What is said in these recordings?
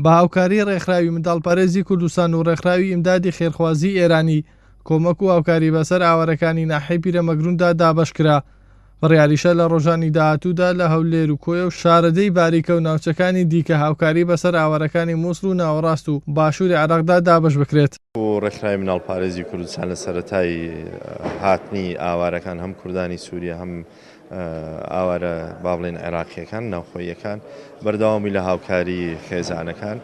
بە هاوکاری ڕێکخراوی منداڵپەرێزی کوردستان و ڕێکخراوی ئیمدادی خێرخوازی ئێرانی کۆمەک و هاوکاری بەسەر ئاوارەکانی ناحیەی پیرەمەگرووندا دابەشکرا، بڕیاریشە لە ڕۆژانی داهاتوودا لە هەولێر و کۆیە و شارەدێی باریکە و ناوچەکانی دیکە هاوکاری بەسەر ئاوارەکانی مووسڵ و ناوەڕاست و باشووری عێراقدا دابەش بکرێت. ڕێکخراوی منداڵپارێزی کوردستان لە سەرەتای هاتنی ئاوارەکان هەم کوردانی سووریە هەم ئاوارە بابڵێین عێراقییەکان ناوخۆییەکان بەردەوامی لە هاوکاری خێزانەکان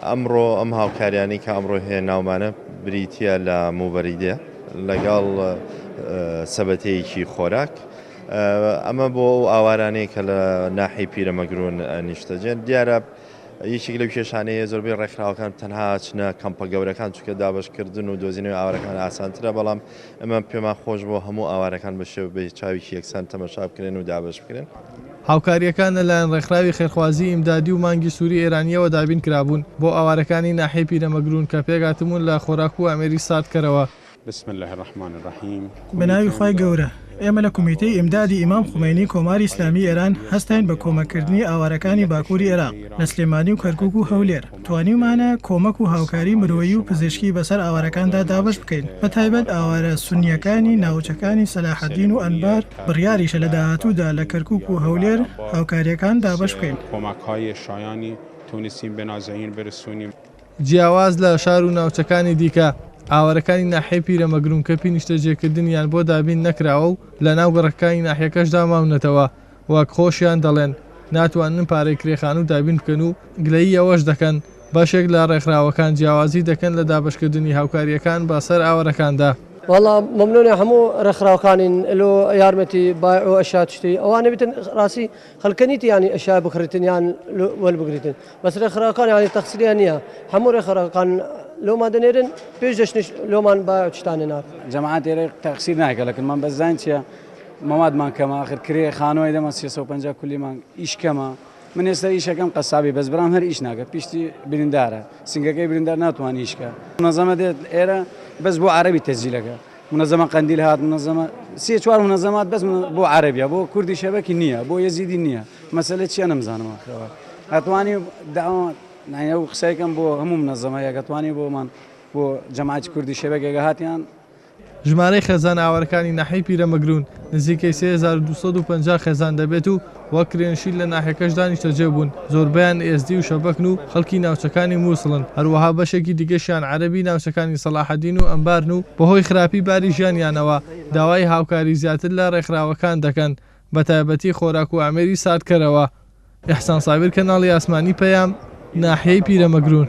ئەمڕۆ ئەم هاوکاریانی کە ئەمڕۆ هەیە ناومانە بریتە لە موبەریدێ لەگەڵ سەبەتەیەکی خۆراک ئەمە بۆ ئەو ئاوارانەیە کە لە ناحی پیرەمەگرون نیشتەجێن دیارە یەکێک لەو کێشانەیە زۆربەی ڕێکخراوەکان تەنها چنە کەمپە گەورەکان چکە دابشکردن و دۆزینەوە ئاوارەکان ئاسانترە بەڵام ئەمە پێمان خۆش بووە هەموو ئاوارەکان بە شێوە بە چاویکی یەکسان تەمەشا بکرێن و دابەش بکرێن. هاوکارییەکان لە لایەن ڕێکخراوی خێرخوازیی ئیمدادی و مانگی سووری ئێرانییەوە دابین کرابوون بۆ ئاوارەکانی ناحیەی پیرەمەگروون کە پێکهاتبوون لە خۆراک و ئامێری ساردکەرەوە. بسم اللە الرحمن الرحیم بە ناوی خوای گەورە. ئێمە لە کومیتەی ئیمدادی ئیمام خومەینی کۆماری ئیسلامیی ئێران هەستاین بە کۆمەککردنی ئاوارەکانی باکووری ئێراق لە سلێمانی و کەرکووک و هەولێر. توانیومانە کۆمەک و هاوکاری مرۆیی و پزیشکی بەسەر ئاوارەکاندا دابەش بکەین، بەتایبەت ئاوارە سوننییەکانی ناوچەکانی سەلاحەدین و ئەنبار، بڕیاریشە لە داهاتوودا لە کەرکووک و هەولێر هاوکارییەکان دابەش بکەین. جیاواز لە شار و ناوچەکانی دیکە، ئاوارەکانی ناحیەی پیرەمەگروونکەپی نیشتەجێکردنیان بۆ دابین نەکراوە و لەناو گەڕەکەکانی ناحیەکەشدا ماونەتەوە وەک خۆشیان دەڵێن ناتوانن پارەی کرێ خانوو دابین بکەن و گلەیی ئەوەش دەکەن بەشێک لە ڕێکخراوەکان جیاوازی دەکەن لە دابەشکردنی هاوکارییەکان بە سەر ئاوەرەکاندا. وەڵا مەمنونی هەموو ڕێکخراوەکانین لۆ یارمەتی بایع و ئەشیا تشتری ئەوانەی بتن ڕاستی خەلکە نیت یانی ئەشیا بکڕیتن یان وەل بگریتن بەس ڕێکخراوەکان یانی تەقسریان نیە هەموو ڕێکخراوەکان لۆمان دەنێرن پێش دەشتنش لۆمان بایع و تشتان نەنار. جەماعەت ئێرە تەقسیر ناکەلکن من بەس زانین چیە مەوادمان کەمە ئاخر کرێ خانوای دەمە سێ سەد و پەنجا کولی مانگ ئیش کەمە من ئێستا ئیشەکەم قەسابی بەس برام هەر ئیش ناکە پیشتی بریندارە سنگەکەی بریندار ناتوانانی ئیش کە منەزەمە دێت ئێرە بەس بۆ عەرەبی تەسجیلەکە منەزەمە قەندیل هات منەزەمە سێ چوار منەزەمات بەس بۆ عەرەبیە بۆ کوردی شەبەکی نییە بۆ یەزیدی نییە مەسەلە چیە نەمزانەوە خەوە ئەتوانی داوا نایە و قسەکەم بۆ هەموو منەزەمە یەکەتوانی بۆمان بۆ جەماعەتی کوردی شەبەکێکە هاتیان ژمارەی خێزانە ئاوارەکانی ناحیەی پیرەمەگروون نزیکەی سێ هەزار و دوو سەد و پەنجا خێزان دەبێت و وەک کرێنشین لە ناحیەکەشدا نیشتەجێ بوون، زۆربەیان ئێزدی و شەبەکن و خەڵکی ناوچەکانی موسڵن، هەروەها بەشێکی دیکەشیان عەرەبی ناوچەکانی سەڵاحەدین و ئەنبارن و بەهۆی خراپی باری ژیانیانەوە داوای هاوکاری زیاتر لە رێکخراوەکان دەکەن بەتایبەتی خۆراک و ئامێری ساردکەرەوە. ئیحسان سابیر کەناڵی ئاسمانی پەیام، ناحیەی پیرەمەگروون.